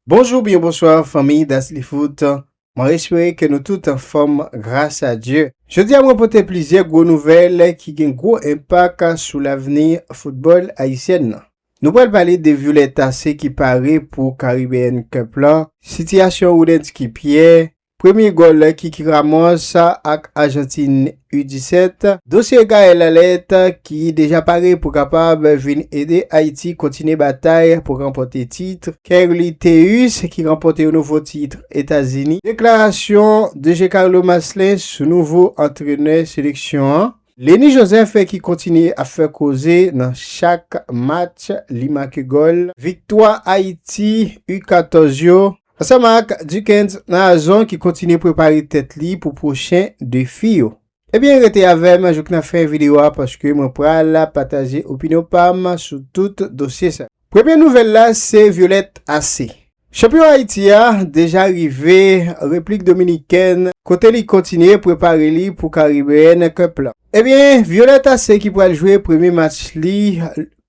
Bonjou oubyen bonswa fanmiy Dasly Foot, mwen espere ke nou tout anfòm gras a Dye. Jodi a mwen pote plizyè gwo nouvèl ki gen gwo enpak sou lavni foutbòl ayisyèn nan. Nou pral pale de Violetta se ki pare pou Caribbean Cup lan, sitiyasyon Roudensky Pierre, Premye gòl Kiki Ramos ak Ajantin U17. Dosye Gaël Allet ki deja pare pou kapab vin ede Ayiti kontinye batay pou ranpòte tit. Kerly Théus ki ranpòte yon nouvo tit Etazini. Deklarasyon DG Carlo Marcelin sou nouvo antrenè seleksyon an. Lenny Joseph ki kontinye ap fè koze nan chak match li make gòl. Viktwa Ayiti U14 yo. Ansanm ak Duckens Nazon ki kontinye prepare tèt li pou pwochen defi yo. Ebyen rete avèm jouk nan fen video a paske mwen pral pataje opinyon pam sou tout dosye sa. Premye nouvèl la se Violette Ace. Chanpyon Ayiti a deja rive Replik Dominikèn kote li kontinye prepare li pou Caribbean Cup la. Ebyen Violette Ace ki pral jwe premye match li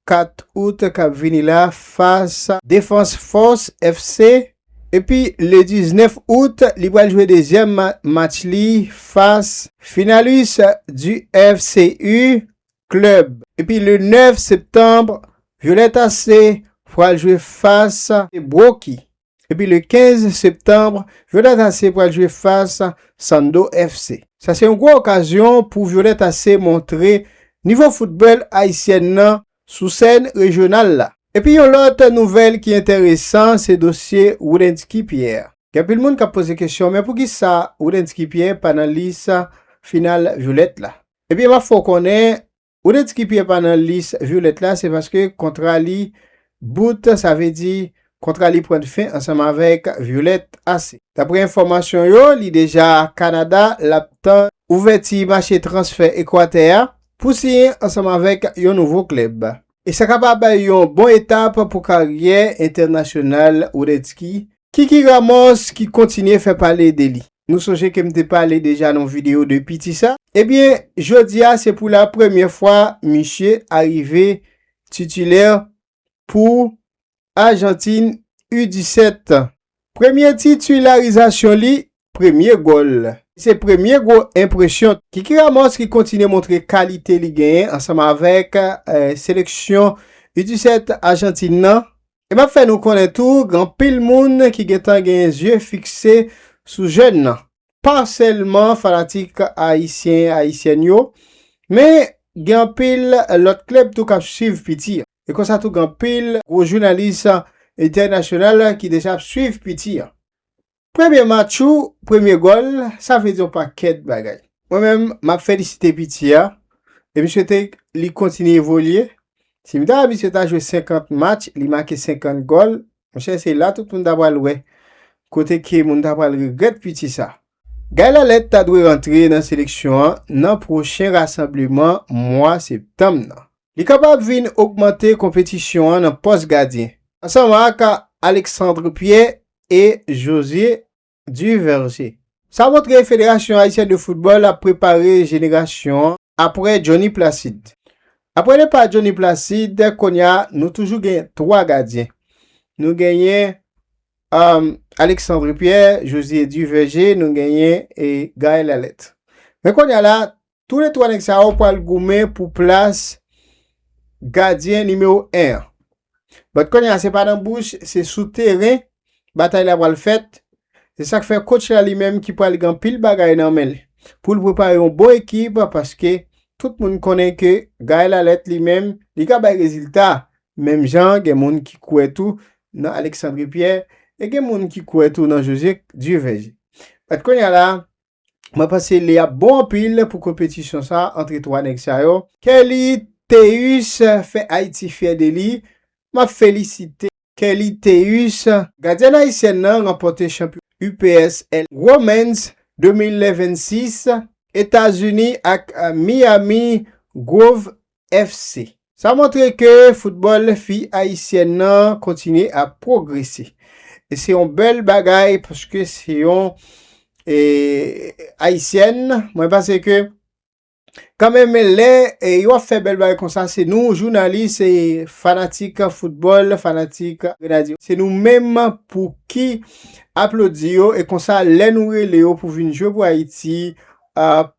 4 out kap vini la fas Defans Fòs FC epi le 19 out li pral jwe dezyèm match li fas Finalis du FCU Club epi le 9 septanb Violette AC pral jwe fas Bwoki. Epi le 15 septanbre, Violette Ace pral jwe fas Sando FC. Sa se yon gwo okazyon pou Violette Ace montre nivo foutbòl ayisyèn nan sou sèn rejyonal la. Epi yon lòt nouvèl ki enteresan se dosye Woodensky Pierre. Gen anpil moun k ap poze kesyon men poukisa Woodensky Pierre pa nan lis final Violette la? Ebyen m ap fè w konnen Ou te di ki Pierre pa nan lis violette la se paske kontra li bout sa vle di kontra li pran fin ansanm avèk violette ase. Daprè enfòmasyon yo li deja Canada lap tann ouvèti mache transfè Ekwatè a pou siyen ansanm avèk yon nouvo klèb. E sa kapab yon bon etap pou karyè entènasyonal Woodetsky Kiki Ramos ki kontinye fè pale de li. Nou sonje ke m te pale deja nan yon video de piti sa. Ebyen, jodi a se pou la premye fwa misye arive titilè pou Ajantin U-17. Premye titilarizasyon li, premye gòl. Se premye gwo enpresyon. Kiki Ramos ki kontinye montre kalite li genyen ansanm avèk seleksyon U-17 Ajantin nan E m ap fè nou konnen tou gen anpil moun ki gen tan gen zye fikse sou jèn nan. Pa sèlman fanatik ayisyen, ayisyèn yo, men gen anpil lòt klèb tou k ap swiv piti an. E konsa tou gen anpil gwo jounalis entènasyonal ki deja ap swiv piti an. Premye match ou, premye gòl, sa vle di yon pakèt bagay. Mwen menm, m ap felisite piti a e m swete li kontinye evolye. Si m ta di misye ta jwe 50 match, li make 50 gòl, monchè se la tout moun ta pral wè kote ke moun ta pral regrèt piti sa. Guy Lalette ta dwe rantre nan seleksyon an nan pwochen rasanbleman mwa septanm nan. Li kapab vin ogmante konpetisyon an nan pòs gadyen, ansanm ak Alexandre Pierre e José Duverger. Sa montre Federasyon Ayisyen de Foutbòl ap prepare jenerasyon apre Johnny Placide. Apre depa Johnny Placide, kounye a nou toujou gen 3 gadyen. Nou genyen Alexandre Pierre, José Duverger, nou genyen Gaël Alette. Men kounye a la, Tou le 3 nèg sa yo pral goumen pou plas gadyen nimewo 1 an. Bat kounye a se pa nan bouch, se sou teren batay la pral fèt. Se sak fè coach la li menm ki pral gen pil bagay nan men l pou l prepare yon bon ekip paske tout moun konnen ke Gaël Alerte li menm li ka bay rezilta menm jan gen moun ki kwè tou nan Alexandre Pierre e gen moun ki kwè tou nan José Dieuverger. Bat kounye a la Mwen panse li ap bon anpil pou konpetisyon sa antre 3 nèg sa yo. Kelly Théus fè Ayiti fyè de li. M ap felisite Kelly Théus. Gadyèn ayisyèn nan ranpòte chanpyon UPSL Women's 2026. Etazini ak Miami Grove FC. Sa montre ke foutbòl fi ayisyèn nan kontinye ap pwogrese. E se yon bèl bagay paske se yon ayisyèn. Mwen panse ke kanmenm lè yo ap fè bèl bagay konsa se nou jounalis, fanatik foutbòl, fanatik Grenadye, se nou menm pou ki aplodi yo e konsa lè nou rele yo pou vin jwe pou Ayiti,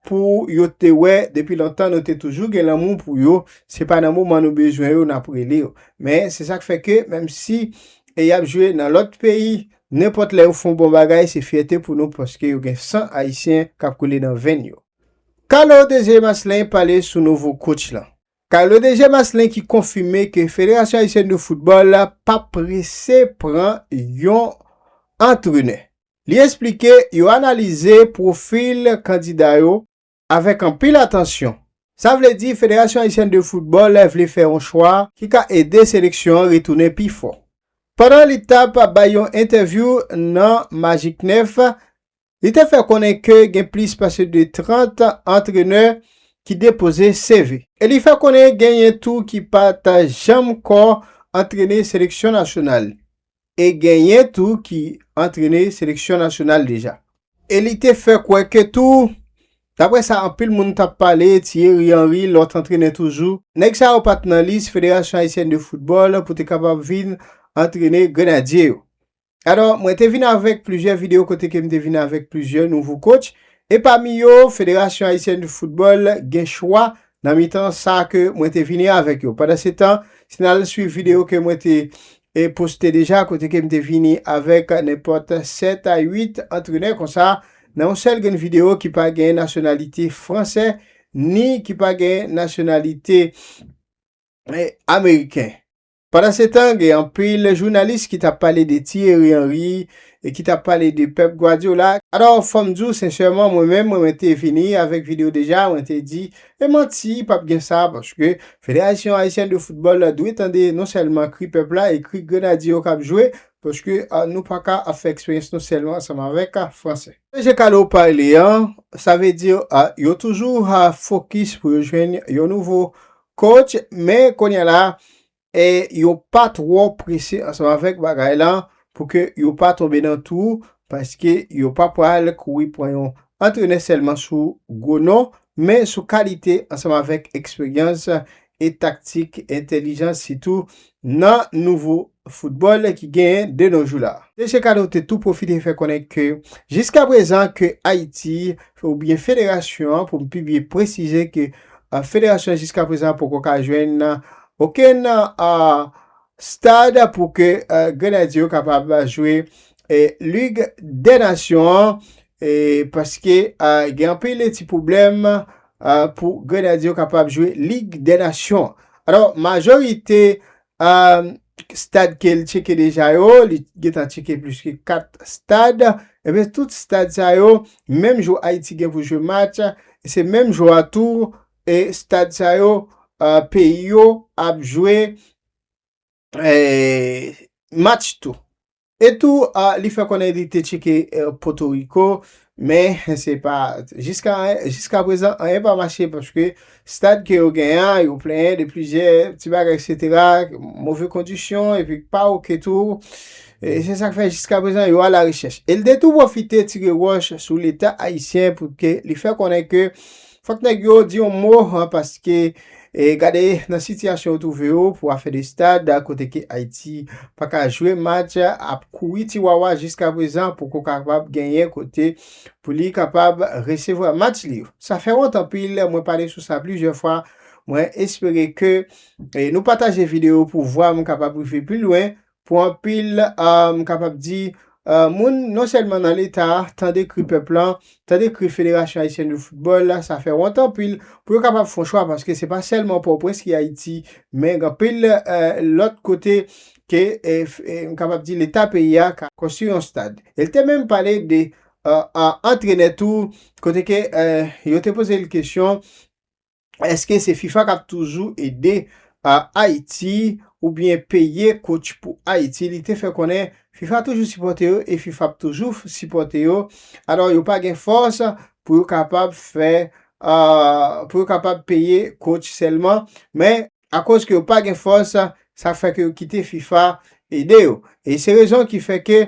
pou yo te wè depi lontan nou te toujou gen lanmou pou yo, se pa nan moman nou bezwen yo n ap rele yo. Men, se sa k fè ke menm si y ap jwe nan lòt peyi, nenpòt lè yo fè yon bon bagay, se fyète pou nou paske yo gen san ayisyen k ap koule nan venn yo. Carlo Désiré Masselin pale sou nouvo kotch lan. Carlo Désiré Masselin ki konfime ke Federasyon Ayisyèn de Foutbòl pa prese pran yon antrenè. Li esplike yo analize pwofil kandida yo avèk anpil atansyon. Sa vle di Federasyon Ayisyèn de Foutbòl vle fè yon chwa ki ka ede seleksyon an retounen pi fò. Pandan li t ap bay yon entèvyou nan Magik 9, li te fè konnen ke gen plis pase de 30 antrenè ki depoze CV. E li fè konnen genyen tou ki pa t janm kò antrene seleksyon nasyonal. e genyen tou ki antrene seleksyon nasyonal deja. E li te fè kwè ke tou, dapre sa anpil moun t ap pale, Thierry Henry, lòt antrenè toujou, nèg sa yo pa t nan lis Federasyon Ayisyèn de Foutbòl pou te kapab vin antrene Grenadye yo. Alò, mwen te vin avèk plizyè videyo kote ke m te vin avèk plizyè nouvo kotch, e pami yo, Federasyon Ayisyèn de Foutbòl gen chwa nan mitan sa ke mwen te vini avèk yo. Pandan se tan, si n al suiv videyo ke mwen te e poste deja kote ke m te vini avèk nenpòt 7 a 8 antrenè konsa nan yon sèl grenn videyo ki pa gen nasyonalite fransè ni ki pa gen nasyonalite ameriken. Pandansetan, gen anpil jounalis ki t ap pale de Thierry Henry e ki t ap pale de Pep Guardiola. Alò, fò m di w sensèman, mwen menm, mwen te vini avèk video deja, mwen te di, e manti, p ap gen sa, paske Federasyon Ayisyen de Foutbòl dwe tande non sèlman kri pèp la e kri grenadye yo k ap jwe, paske nou pa ka ap fè eksperyans nou sèlman ansanm avèk Franse. E jan Carlo pale an, sa vle di yo toujou fokis pou yo jwenn yon nouvo Coach, men kounye a la, e yo pa twò prese ansanm avèk bagay lan pou ke yo pa tonbe nan twou, paske yo pa pral kouri pran yon antrenè sèlman sou gwo non, men sou kalite ansanm avèk eksperyans e taktik, entèlijans sitou nan nouvo football ki genyen de no jou la. Mesye Kado te tou pwofite fè konnen ke jiska prezan ke Ayiti ou byen federasyon an pou m pi byen presize ke federasyon an jiska prezan poko ka jwenn okenn stad pou ke Grenadye yo kapab jwe Lig dè Nasyon an paske gen anpil ti pwoblèm pou Grenadye yo kapab jwe Lig dè Nasyon an. Alò majorite Aah stad kel tcheke deja yo li t gentan tcheke plis ke 4 stad ebyen tout stad sa yo menm jou ayiti gen pou jwe match se menm jou a tou e stad sa yo peyi yo ap jwe match tou. E tou li fè konnen li te tcheke Potoriko men se pa jiska prezan anyen pa mache paske stad ke yo gen an yo plenyen de plizyè ti bagay eksetera move kondisyon epi k pa ok tou e se sak fè jiska prezan yo alarechèch. El te tou pwofite tire wòch sou leta ayisyen pou ke li fè konnen ke Fòk nèg yo di yon mo paske gade nan sitiyasyon yo twouve yo pou afè de stad kote ke Ayiti pa ka jwe match ap kouri ti wawa jiska prezan pou ko kapab genyen kote pou li kapab resevwa match li yo. Sa fè wont anpil mwen pale sou sa plizyè fwa mwen espere ke nou pataje video pou vwa m kapab rive pi lwen Pou anpil, m kapab di, moun non sèlman nan Leta, tande kri pèp lan, tande kri Federasyon Ayisyèn de Foutbòl, sa fè wont anpil pou yo kapab fon chwa paske se pa sèlman Pòtoprens ki Ayiti, men gen anpil lòt kote ke m kapab di Leta peyi a ka konstwi yon stad. E l te menm pale de antrenè tou kote ke yo te poze l kesyon. Eske se fifa kap toujou ede Haiti ou byen peye coach pou Haiti li te fè konnen fifa toujou sipòte yo e fifa ap toujou sipòte yo alò yo pa gen fòs pou yo kapab fè pou yo kapab peye coach sèlman men Akoz ke yo pa gen fòs, sa fè ke yo kite fifa ede yo. E se rezon ki fè ke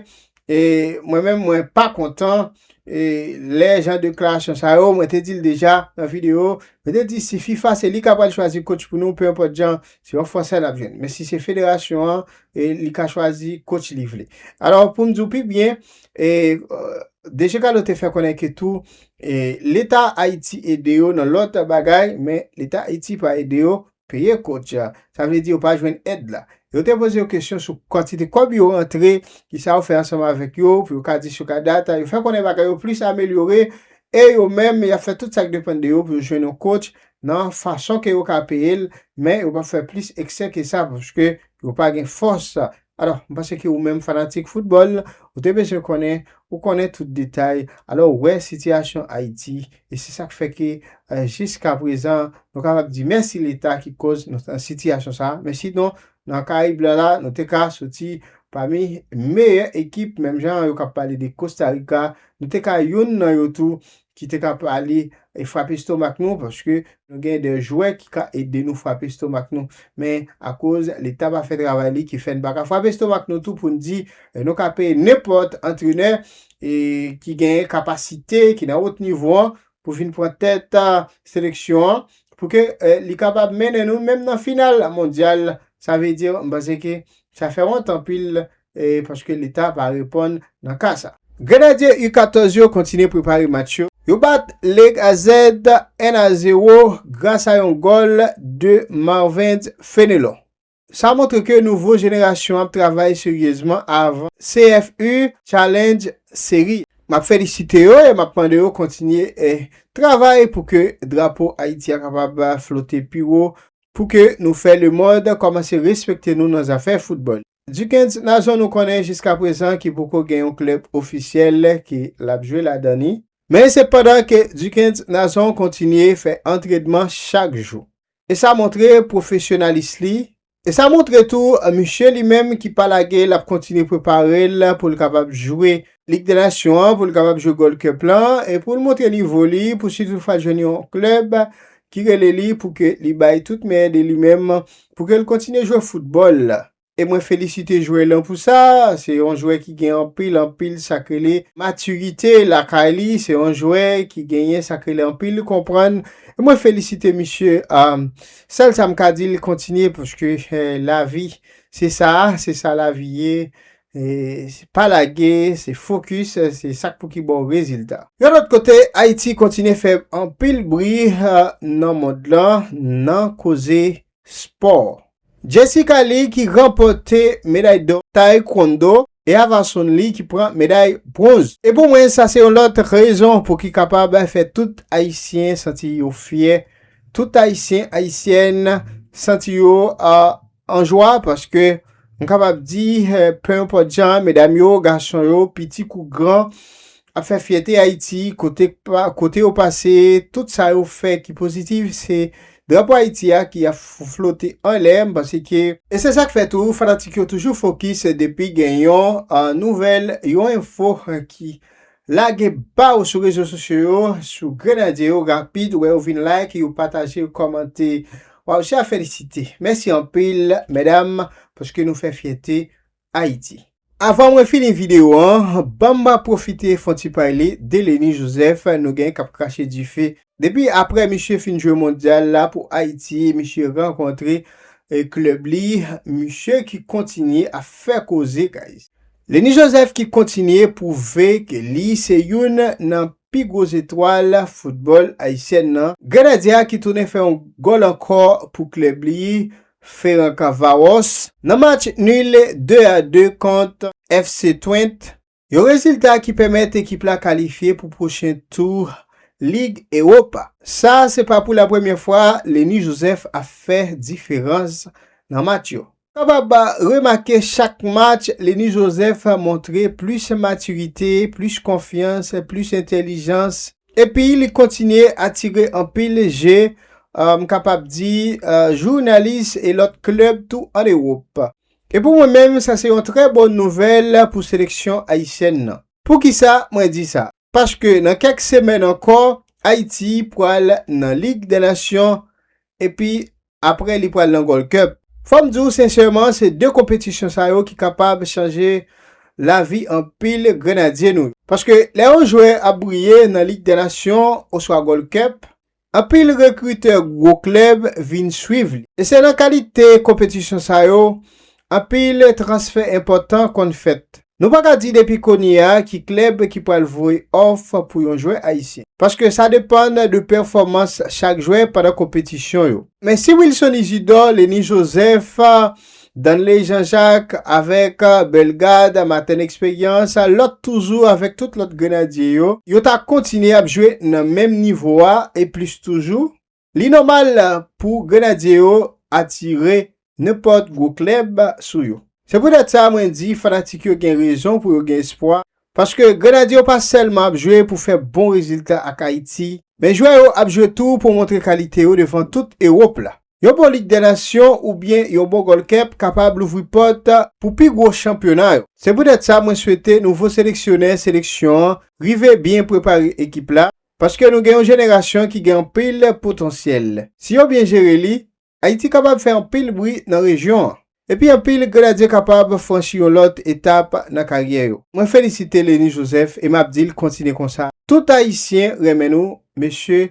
mwen menm mwen pa kontan lè jan deklarasyon sa yo, mwen te di l deja nan video, mwen te di si fifa se li ka pral chwazi coach pou nou, pe enpòt jan, se yon fransè n ap jwenn. Men si se federasyon an, li ka chwazi coach li vle. Alò pou m di w pi byen, DG Carlo te fè konnen ke tou E leta ayiti ede yo nan lòt bagay men leta ayiti pa ede yo peye kòt ya sa vle di yo pa jwenn èd la yo te poze yo kesyon sou kantite kòb yo rantre ki sa yo fè ansanm avèk yo pou yo ka di sou ka data yo fè konnen bagay yo plis amelyore e yo menm yap fè tout sak depann de yo pou yo jwenn yon kòt nan fason ke yo ka peyel men yo pap fè plis eksè ke sa paske yo pa gen fòs Alò, m panse ke ou menm fanatik foutbòl, ou te bezwen konnen, ou konnen tout detay, alò ou wè sitiyasyon Ayiti, e se sa k fè ke jiskaprezan nou kapab di mèsi Leta ki koz nou nan sitiyasyon sa a, men sinon nan Karayib lan la, nou te ka soti pami meyè ekip, menm jan yo k ap pale de Kostarika, nou te ka youn nan yo tou, ki te ka pale e frape estomak nou paske nou gen de jwè ki ka ede nou frape estomak nou men akoz leta pa fè travay li ki fè n pa ka frape estomak nou tou pou n di nou ka peye nenpòt antrenè e ki genyen kapasite ki nan wot nivo an pou vin pran tèt seleksyon an pou ke li kapab mennen nou menm nan final mondyal sa vle di m panse ke sa fè wont anpil paske leta pa reponn nan ka sa. Grenadye U 14 yo kontinye prepare match yo. Yo bat League AZ 1 a 0 gras a yon gòl de Marvens Fenelon. Sa montre ke nouvo jenerasyon ap travay seryezman avn CFU Challenge Serie. Map felisite yo e map mande yo kontinye travay pou ke drapo Ayiti a kapab flote pi wo, pou ke nou fè lemond kòmanse respekte nou nan zafè foutbòl. Dukens na zòn ou konnen jiska prezan ki poko gen yon klèb ofisyèl ke lap jwe ladan ni. Men se pandan ke Dukens na zon kontinye fè antredman chak jou. E sa montre pwofesyonalis li, e sa montre tou misye li menm ki pa lage lap kontinye preparel poul kapab jwe Lig dè Nasyon an pou l kapab jwe Gold Cup lan e pou l montre nivo li pou si toutfwa l jwenn yon klèb ki rele li pou ke li bay tout meyè de li menm pou ke l kontinye jwe foutbòl e mwen felisite jwè lan pou sa, se yon jwè ki gen anpil anpil sa k rele matirite lakay li, se yon jwè ki genyen sa k rele anpil konprann e mwen felisite misye sèl sa m ka di l kontinye paske lavi se sa, se sa lavi ye E pa lage, se fokis, se sak pou ki ba w rezilta. Yon lòt kote, Ayiti kontinye fè anpil bri nan mond lan nan koze spò. Jessica Lee ki ranpòte meday dò Taekwondo e Ava Sun Lee ki pran meday bronz. E pou mwen sa se yon lòt rezon pou ki kapab fè tout Ayisyen santi yo fyè, tout Ayisyen, Ayisyèn santi yo An jwa paske m kapab di penenpòt jan medam yo, gason yo, piti kou gran ap fè fyète Ayiti kote kote yo pase tout sa yo fè ki pozitif se drapo Ayiti a ki ap flote anlè m panse ke E se sa k fè tou fanatik yo toujou fokis depi gen yon nouvèl, yon enfo ki Lage pa ou sou rezo sosyo yo sou grenadye yo rapid wè yo vin like yo pataje yo kòmante waw se a felisite mèsi anpil mèdam paske nou fè fyète ayiti. Avan mwen fini video an banm ba profite fon ti payle de Leni Joseph nou gen kap krache dife depi aprè misye fin jwe mondyal la pou ayiti misye rankontre klèb li misye ki kontinye ap fè koze guys Lenny Joseph ki kontinye pwouve ke li se youn nan pi gwo zetwal foutbòl ayisyèn nan. Grenadye a ki tounen fè yon gòl ankò pou klèb li, Ferran Cavaros, nan match nul 2 a 2 kont FC Twent, yon rezilta ki pèmèt ekip la kalifye pou pwochen tou Lig Ewopa. Sa se pa pou la premyè fwa Lenny Joseph ap fè diferans nan match yo. Kapab remake chak match Lenny Joseph montre plis matirite, plis konfyans, plis entèlijans epi li kontinye atire anpil je, m kapab di, jounalis e lòt klèb tou an Ewop. E pou mwen menm sa se yon trè bon nouvèl pou seleksyon ayisyèn nan. Poukisa mwen di sa? Paske nan kèk semèn ankò, Ayiti pral nan Lig dè Nasyon, epi apre li pral nan Gold Cup. Fò m di w sensèman, se 2 konpetisyon sa yo ki kapab chanje lavi anpil Grenadye nou yo. Paske lè yon jwè ap briye nan Lig dè Nasyon oswa Gold Cup, Anpil rekritè gwo klèb vin swiv li. E se nan kalite konpetisyon sa yo, anpil transfè enpòtan konn fèt. Nou pa ka di depi kounye a ki klèb ki pral voye òf pou yon jwè ayisyen. Paske sa depann de pèfòmans chak jwè pandan konpetisyon yo. Men si Wilson Isidor, Lenny Joseph, Danley Jean Jacques avèk Bellegarde Martin Expérience, lòt toujou avèk tout lòt Grenadye yo, yo ta kontinye ap jwe nan menm nivo a e plis toujou, li nòmal pou Grenadye yo atire nenpòt gwo klèb sou yo. Se poutèt sa mwen di fanatik yo gen rezon pou yo gen espwa Paske Grenadye yo pa sèlman ap jwe pou fè bon rezilta ak Ayiti, men jwè yo ap jwe tou pou montre kalite yo devan tout Ewop la. Yon bon Lig dè Nasyon oubyen yon bon Goldcup kapab louvri pòt pou pi gwo chanpyona yo. Se poutèt sa mwen swete nouvo seleksyonè seleksyon an rive byen prepare ekip la, paske nou gen yon jenerasyon ki gen anpil potansyèl. Si yo byen jere li, Ayiti kapab fè anpil bri nan rejyon an. Epi anpil Grenadye kapab franchi yon lòt etap nan karyè yo. Mwen felisite Lenny Joseph e map dil kontinye konsa. Tout ayisyen renmen nou mesye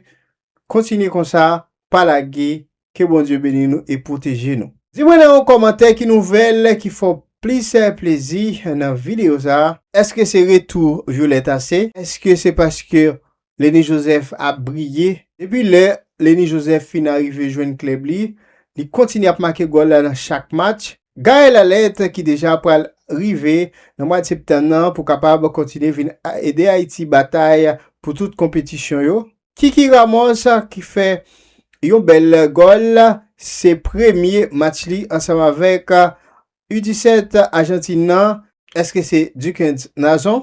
kontinye konsa pa lage ke Bondye beni nou e pwoteje nou. Di mwen nan yon kòmantè ki nouvèl ki fè w plis plezi nan videyo sa. Eske se retou Violette a se? Eske se paske Leni Joseph ap briye. Depi lè Leni Joseph fin arive jwenn klèb li, li kontinye ap make gòl nan chak match. Gaël Alerte ki deja pral rive nan mwad septanm nan pou kapab kontinye vin ede Ayiti batay pou tout konpetisyon yo. Kiki Ramos ki fè yon bèl gòl, se premye match li ansanm avèk U 17 Ajantin nan. Eske se Duckens Nazon?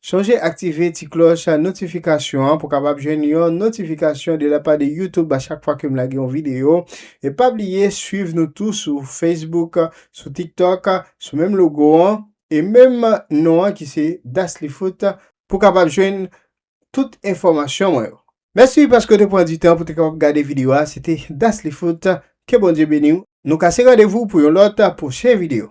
Sonje aktive ti klòch notifikasyon an pou kapab jwenn yon notifikasyon de la pa de YouTube a chak fwa ke m lage yon videyo. E pa bliye swiv nou tou sou Facebook, sou TikTok, sou menm logo an e menm non an ki se Daclyfoot pou kapab jwenn tout enfòmasyon mwen yo. Mèsi paske w te pran di tan pou te kapab gade videyo a. Se te Daclyfoot. Ke Bondye beni w. Nou kase randevou pou yon lòt pwochen videyo.